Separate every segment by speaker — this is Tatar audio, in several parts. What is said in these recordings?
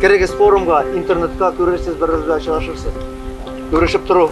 Speaker 1: Керегез форумга, интернетка, күрерсез, бер-берегезгә очрашырсыз. Күрешеп тору.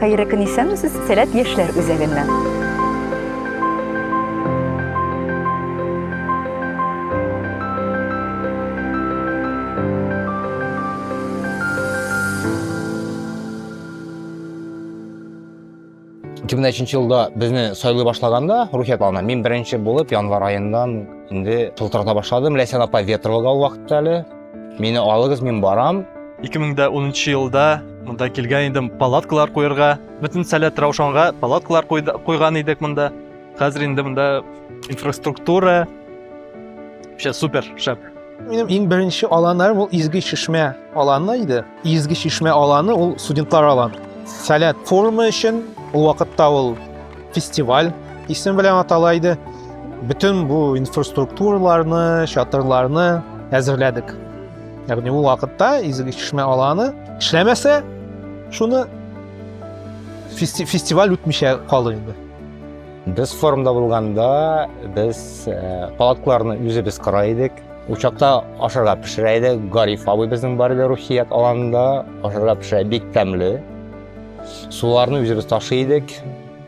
Speaker 1: Хәерле көн исәнмесез, Сәләт яшьләр үзәгеннән. Ике мең өченче елда безне сайлый башлаганда рухият алына мин беренче булып январь аеннан инде шылтырата башладым ләйсән апа ветровага ул вакытта әле Мине алыгыз, мин барам. 2010 елда монда килгән идем палаткалар куярга. Бөтен сәләт Раушанга палаткалар куйган идек монда. Хәзер инде монда инфраструктура. Вообще супер, шәп. Минем иң беренче аланнарым ул Изге Чишмә аланы иде. Изге чишмә аланы ул студентлар аланы. Сәләт форумы өчен ул вакытта ул фестиваль исем белән атала иде. Бөтен бу инфраструктураларны, чатырларны әзерләдек. Ягъни ул вакытта Изге чишмә аланы эшләмәсә, шуны фести фестиваль үтмичә калыр инде. Без форумда булганда, без э, палаткаларны үзебез кора идек. Учакта ашарга пешерә иде. Гариф абый безнең бар иде рухият аланында. Ашарга пешерә бик тәмле. Суларны үзебез ташый идек.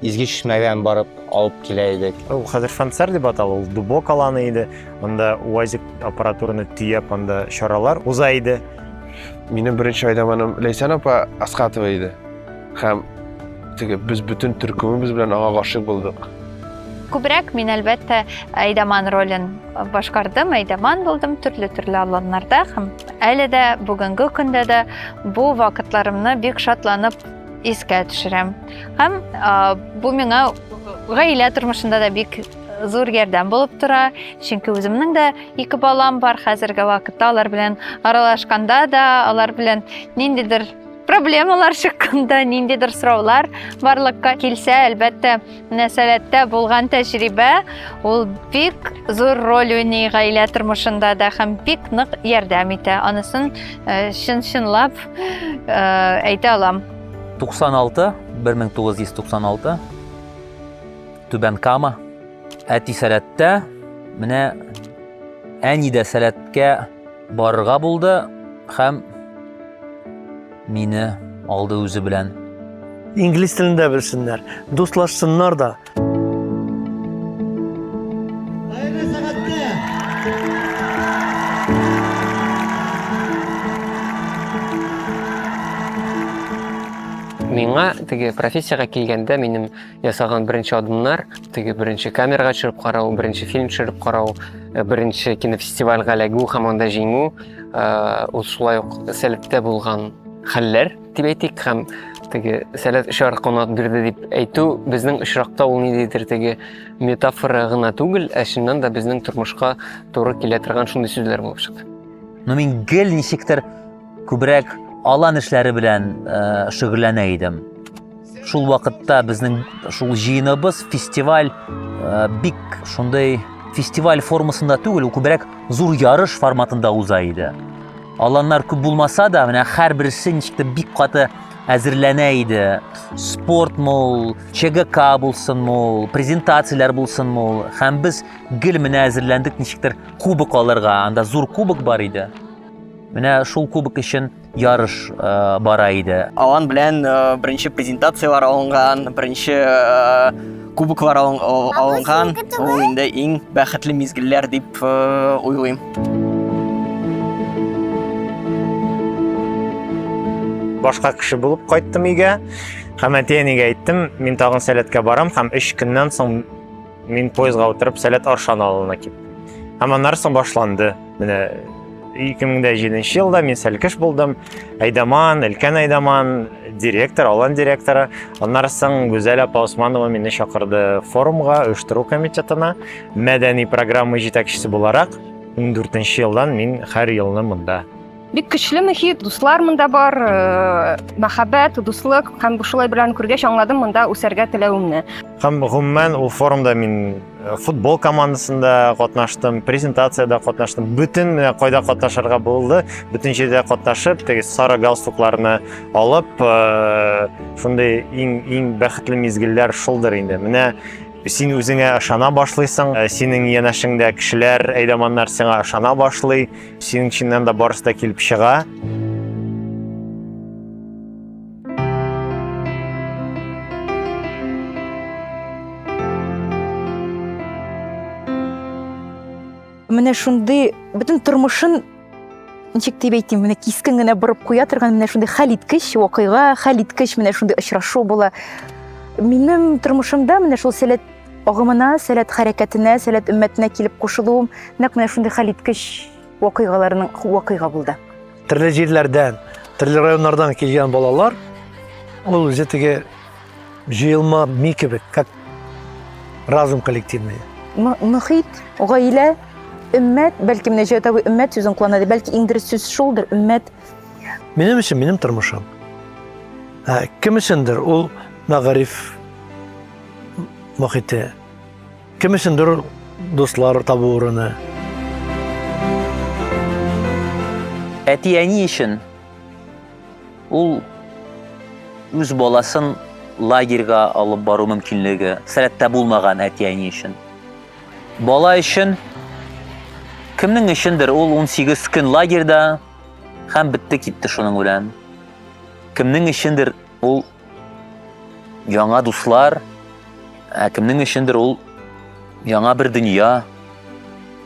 Speaker 1: Изге чишмәгән барып алып килә идек. Ул хәзер фансар дип атала, ул дубок аланы иде. Анда УАЗик аппаратураны төяп, анда чаралар уза иде. Минем беренче айдаманым Ләйсән апа Аскатова иде. Һәм теге без бөтен төркемебез белән аңа гашыйк булдык. Күбрәк мин әлбәттә Айдаман ролен башкардым, Айдаман булдым төрле-төрле аланнарда һәм әле дә бүгенге көндә дә бу вакытларымны бик шатланып искә төшерәм. Һәм бу миңа гаилә тормышында да бик зур ярдәм булып тора, чөнки үземнең дә ике балам бар хәзерге вакытта, алар белән аралашканда да, алар белән ниндидер проблемалар чыкканда ниндидер сораулар барлыкка килсә әлбәттә мөнәсәбәттә булган тәҗрибә ул бик зур роль уйный гаилә тормышында да һәм бик нык ярдәм итә анысын э, чын чынлап э, әйтә алам 96 1996 түбән кама әти сәләттә менә әни дә сәләткә Барырга булды һәм мине алды үзе белән. Инглиз телен дә белсеннәр, дуслашсыннар да. Миңа теге профессиягә килгәндә минем ясаган беренче адымнар теге беренче камерага төшереп карау беренче фильм төшереп карау э, беренче кинофестивальгә эләгү һәм анда җиңү э, ул шулай ук сәләттә булган хәлләр дип әйтик һәм теге сәләт очар канат бирде дип әйтү безнең очракта ул ниндидер теге метафора гына түгел ә чыннан да безнең тормышка туры килә торган шундый сүзләр булып чыкты но мин гел ничектер Күбрәк алан эшләре белән э, шөгыльләнә идем. Шул вакытта безнең шул җыеныбыз фестиваль э, бик шундый фестиваль формасында түгел, күбрәк зур ярыш форматында уза иде. Аланнар күп булмаса да, менә һәрберсе ничектер бик каты әзерләнә иде. Спорт мул, ЧГК булсын мул, презентацияләр булсын мул. Һәм без гел менә әзерләндек ничектер кубок алырга. Анда зур кубок бар иде. Менә шул кубок өчен ярыш э, бара иде. Алан белән э, беренче презентацияләр алынган, беренче э, кубоклар алын- ал- Абый, алынган. синеке түгел? Ул инде иң бәхетле мизгелләр дип э, уйлыйм. башка кеше булып кайттым өйгә һәм әти әнигә әйттем мин тагын сәләткә барам һәм өч көннән соң Мин поездга утырып Сәләт Аршан авылына киттем. Һәм аннары соң башланды. Менә 2007 елда мин сәлкеш булдым. Айдаман, Элкән Айдаман, директор, Алан директоры. Аннары соң Гүзәл апа Усманова мине чакырды форумга, оештыру комитетына, мәдәни программа җитәкчесе буларак. 14 елдан мин һәр елны монда Бик көчле мөхит, дуслар монда бар, э, мәхәббәт, дуслык һәм бу шулай белән күргәч аңладым монда үсәргә теләвемне. Һәм гомумән ул форумда мин э, футбол командасында катнаштым, презентациядә катнаштым. Бөтен менә кайда катнашырга булды, бөтен җирдә катнашып, теге сары галстукларны алып, э, шундый иң иң бәхетле мизгелләр шулдыр инде. Менә син үзеңә ышана башлыйсың, синең янәшеңдә кешеләр, әйдаманнар сиңа ышана башлый. Синең чиннан да барысы да килеп чыга. Менә шундый бөтен тормышын ничек дип әйтим, менә кискен генә борып куя торган менә шундый хәл иткеч вакыйга, хәл иткеч менә шундый очрашу була. Минем тормышымда менә шул сәләт Агымына, сәләт хәрәкәтенә, сәләт өммәтенә килеп кушылуым нәкъ менә шундый хәлиткеч вакыйгаларның вакыйга булды. Төрле җирләрдән, төрле районнардан килгән балалар ул үзе теге җыелма ми кебек, как разум коллективный. Мөхит, гаилә, өммәт, бәлки менә Җәүдәт абый өммәт сүзен куллана, бәлки иң дөрес сүз шулдыр, өммәт. Минем өчен минем тормышым. Ә кем өчендер ул мәгариф мохите. Кем өчендер ул дуслар табу урыны. Әти-әни өчен ул үз баласын лагерьга алып бару мөмкинлеге сәләттә булмаган әти-әни өчен. Бала өчен кемнең өчендер ул 18 көн лагерьда һәм бетте китте шуның белән. Кемнең өчендер Ул яңа дуслар, ә кемнең өчендер ул яңа бер дөнья.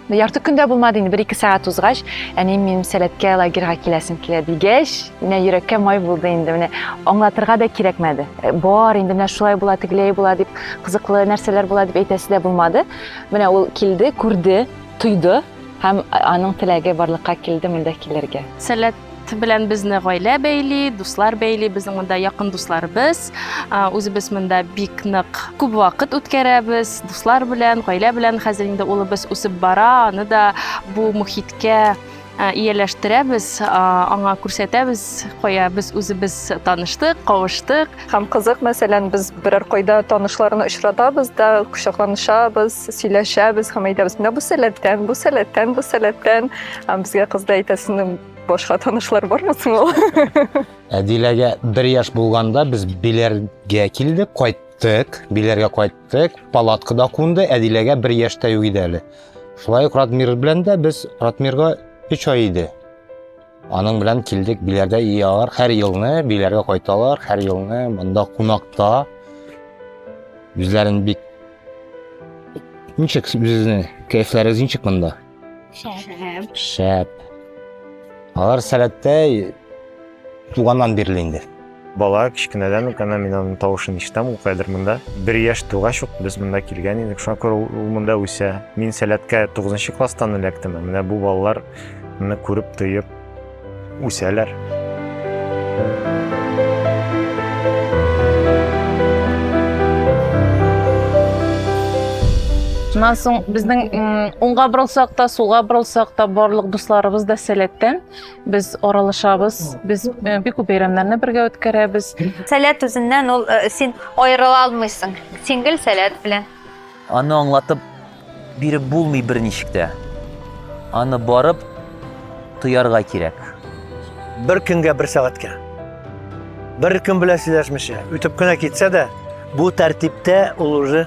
Speaker 1: Ярты көн дә булмады инде, бер-ике сәгать узгач, әнием минем сәләткә лагерьга киләсем килә дигәч, менә йөрәккә май булды инде, менә аңлатырга да кирәкмәде. Э, бар инде, менә шулай була, тегеләй була дип, кызыклы нәрсәләр була дип әйтәсе дә булмады. Менә ул килде, күрде, тойды һәм аның теләге барлыкка килде монда килергә. Сәләт белән безне гаилә бәйли, дуслар бәйли, безнең монда якын дусларыбыз. Үзебез монда бик нык күп вакыт үткәрәбез, дуслар белән, гаилә белән. Хәзер инде улыбыз үсеп бара, аны да бу мөхиткә ияләштерәбез, аңа күрсәтәбез, кая без үзебез таныштык, кавыштык. Һәм кызык, мәсәлән, без берәр кайда танышларны очратабыз да, кочакланышабыз, сөйләшәбез һәм әйтәбез, менә бу сәләттән, бу сәләттән, бу сәләттән. Һәм безгә кыз да әйтә, сезнең башка танышлар бармы соң ул? Ә Диләгә бер яшь булганда без Биләргә килдек, кайттык, Биләргә кайттык, палаткада кунды, ә Диләгә бер яшьтә юк иде әле. Шулай ук Радмир белән дә без Радмирга өч ай иде. Аның белән килдек Биләрдә иялар һәр елны Биләргә кайталар һәр елны монда кунакта үзләрен бик ничек үзеңне кәефләрегез ничек монда шәп шәп алар сәләттәй туганнан бирле инде Бала, кечкенәдән үк әнә мин аның тавышын ишетәм, ул хәзер монда. Бер яшь тугач ук без монда килгән идек, шуңа күрә ул монда үсә. Мин Сәләткә тугызынчы класстан эләктем, ә менә бу балалар моны күреп, тоеп үсәләр. Шуннан соң безнең уңга борылсак та, сулга борылсак та, барлык дусларыбыз да Сәләттән. Без аралашабыз, без э, бик күп бәйрәмнәрне бергә үткәрәбез. Сәләт үзеннән ул э, син аерыла алмыйсың. Син гел сәләт белән. Аны аңлатып биреп булмый берничек тә. Аны барып тоярга кирәк. Бер көнгә бер сәгатькә. Бер көн белән сөйләшмичә, үтеп кенә китсә дә, бу тәртиптә ул уже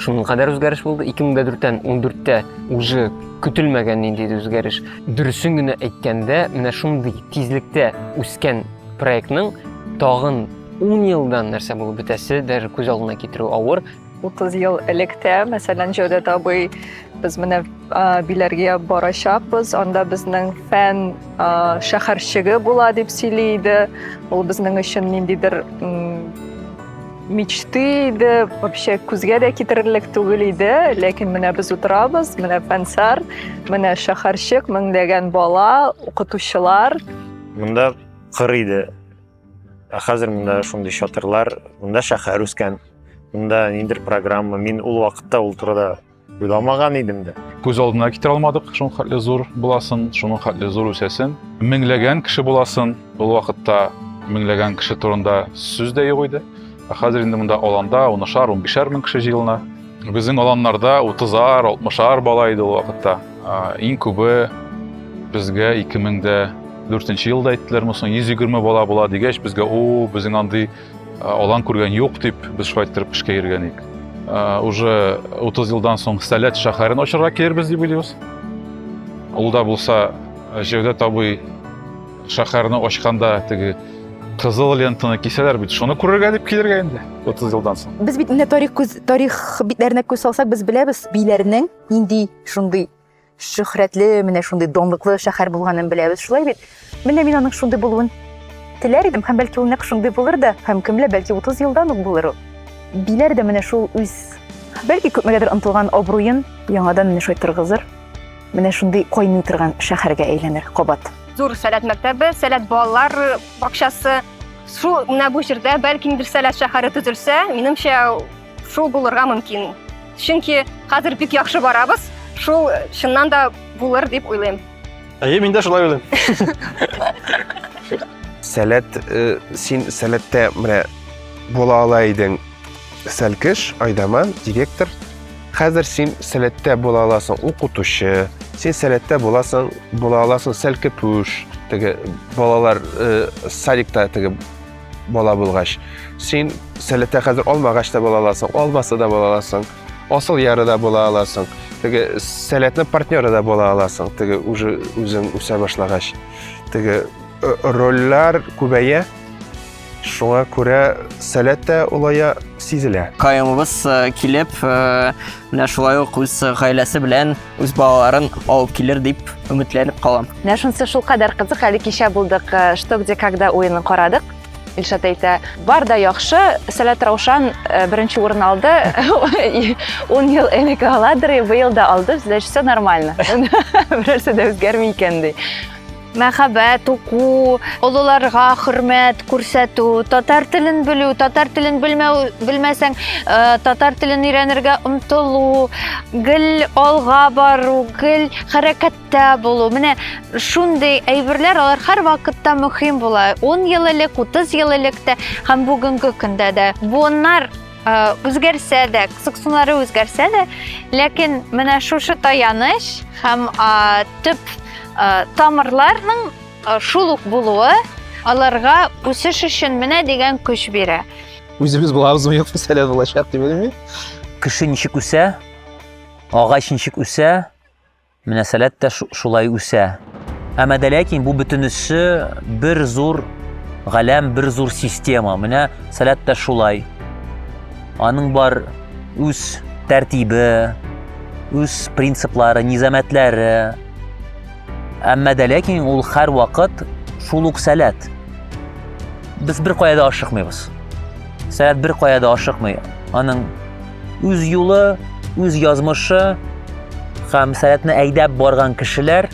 Speaker 1: Шуның кадәр үзгәреш булды. 2004-тән 14-тә уже көтелмәгән нинди үзгәреш. Дөресен генә әйткәндә, менә шундый тизлектә үскән проектның тагын 10 елдан нәрсә булып бетәсе даже күз алдына китерү авыр. 30 ел электә, мәсәлән, Җәүдәт абый без менә Биләргә барачакбыз, анда безнең фән шәһәрчеге була дип сөйли иде. Ул безнең өчен ниндидер мечты иде вообще күзгә дә китерерлек түгел иде ләкин менә без утырабыз менә фәнсар менә шәһәрчек меңләгән бала укытучылар монда кыр иде ә хәзер монда шундый чатырлар монда шәһәр үскән монда ниндидер программа мин ул вакытта ул турыда Уйламаган идем дә. Күз алдына китерә алмадык, шуның хәтле зур буласын, шуның хәтле зур үсәсен. Меңләгән кеше буласын, ул вакытта меңләгән кеше турында сүз дә юк иде. Ә хәзер инде монда аланда унышар, унбишәр мең кеше җыелына. Безнең аланнарда утызар, алтмышар бала иде ул вакытта. Иң күбе безгә 2004 елда әйттеләр, мосын 120 бала була дигәч, безгә, о, безнең андый Алан күргән юк дип, без шулай иттереп эшкә йөргәник. Уже 30 елдан соң Сәләт шәһәрен ачарга килербез дип уйлыйбыз. Ул да булса Җәүдәт абый шәһәрне ачканда теге кызыл лентаны кисәләр бит, шуны күрергә дип килергә инде 30 елдан соң. Без бит инде тарих күз тарих битләренә күз салсак, без беләбез, биләрнең нинди шундый Шөһрәтле, менә шундый данлыклы шәһәр булганын беләбез, шулай бит? Менә мин аның шундый булуын теләр идем, һәм бәлки ул нәкъ шундый булыр да, һәм кемле, бәлки 30 елдан ук булыр ул. Биләр дә менә шул үз, бәлки күпмегәдер ынтылган абруен яңадан менә шулай торгызыр, менә шундый кайный торган шәһәргә әйләнер кабат. Зур Сәләт мәктәбе, Сәләт балалар бакчасы, шул менә бу җирдә, бәлки, Сәләт шәһәре төзелсә, минемчә, Шул булырга мөмкин. Чөнки хәзер бик яхшы барабыз, шул чыннан да булыр дип уйлыйм. Әйе, мин дә шулай уйлыйм. Сәләт, э, син сәләттә менә була ала идең. Сәлкеш, Айдаман, директор. Хәзер син сәләттә була аласың укытучы, син сәләттә буласың, була аласың сәлкепүш, теге балалар э, садикта теге Бала булгач, син сәләтә хәзер алмагач та була аласың, алмасы да була аласың, асыл яры да була аласың, теге сәләтнең партнеры да була аласың, теге уже үзең үсә башлагач. Теге э, рольләр күбәя, шуңа күрә сәләт тә олая сизелә. Каемыбыз э, килеп, э, менә шулай ук үз гаиләсе белән үз балаларын алып килер дип өметләнеп калам. Менә шунысы шулкадәр кызык, әле кичә булдык, э, что где когда уенын карадык. Илшат әйтә, бар да яхшы, Сәләт Раушан э, беренче урын алды, 10 ел элек аладыр, и быел да алды, значит, все нормально. Берәрсе дә үзгәрми икән ди. мәхәббәт уку олыларга хөрмәт күрсәтү татар телен белү татар телен белмәү белмәсәң э, татар телен өйрәнергә омтылу гел алга бару гел хәрәкәттә булу менә шундый әйберләр алар һәрвакытта мөһим була 10 ел элек 30 ел элек тә һәм бүгенге көндә дә буыннар үзгәрсә дә, кызыксынулары үзгәрсә дә, ләкин менә шушы таяныч һәм төп тамырларның шул ук булуы аларга үсеш өчен менә дигән көч бирә. Үзебез булабызмы, юк мәсьәлә булачак дип белмим. Кеше ничек үсә, агач ничек үсә, Мөнәсәләт тә шулай үсә. Әмма дә ләкин бу бөтенесе бер зур галәм, бер зур система. Менә сәләт тә шулай. Аның бар үз тәртибе, үз принциплары, низамәтләре. Әмма дә ләкин ул һәр вакыт шул ук сәләт. Без бер кая да ашыкмыйбыз. Сәләт бер кая да ашыкмый. Аның Үз юлы, үз язмышы һәм сәләтне әйдәп барган кешеләр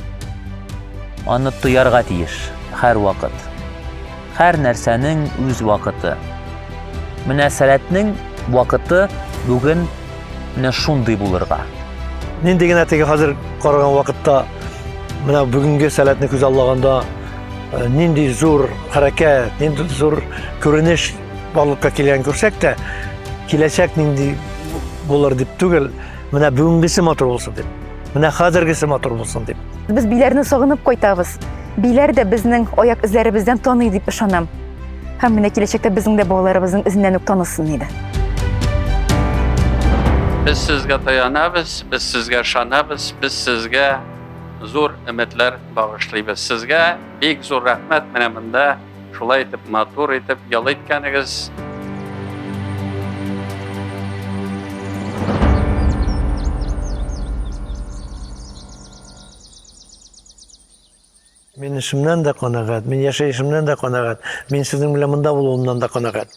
Speaker 1: аны тоярга тиеш һәр вакыт. Һәр нәрсәнең үз вакыты. Менә сәләтнең вакыты бүген менә шундый булырга. Нинди генә теге хәзер караган вакытта менә бүгенге сәләтне күз аллаганда э, нинди зур хәрәкәт, нинди зур күренеш Барлыкка килгән күрсәк тә, киләчәк нинди булыр дип түгел, менә бүгенгесе матур булсын дип, менә хәзергесе матур булсын дип. Без биләрне сагынып кайтабыз. Биләр дә безнең аяк эзләребездән таный дип ышанам. Һәм менә киләчәктә безнең дә балаларыбызның эзеннән үк танысын иде. Без сезгә таянабыз, без сезгә ышанабыз, без сезгә зур өметләр багышлыйбыз. Сезгә бик зур рәхмәт менә монда Шулай итеп, матур итеп ял иткәнегез. Мин эшемнән дә канәгать, мин яшәешемнән дә канәгать, мин сезнең белән монда булуымнан да канәгать.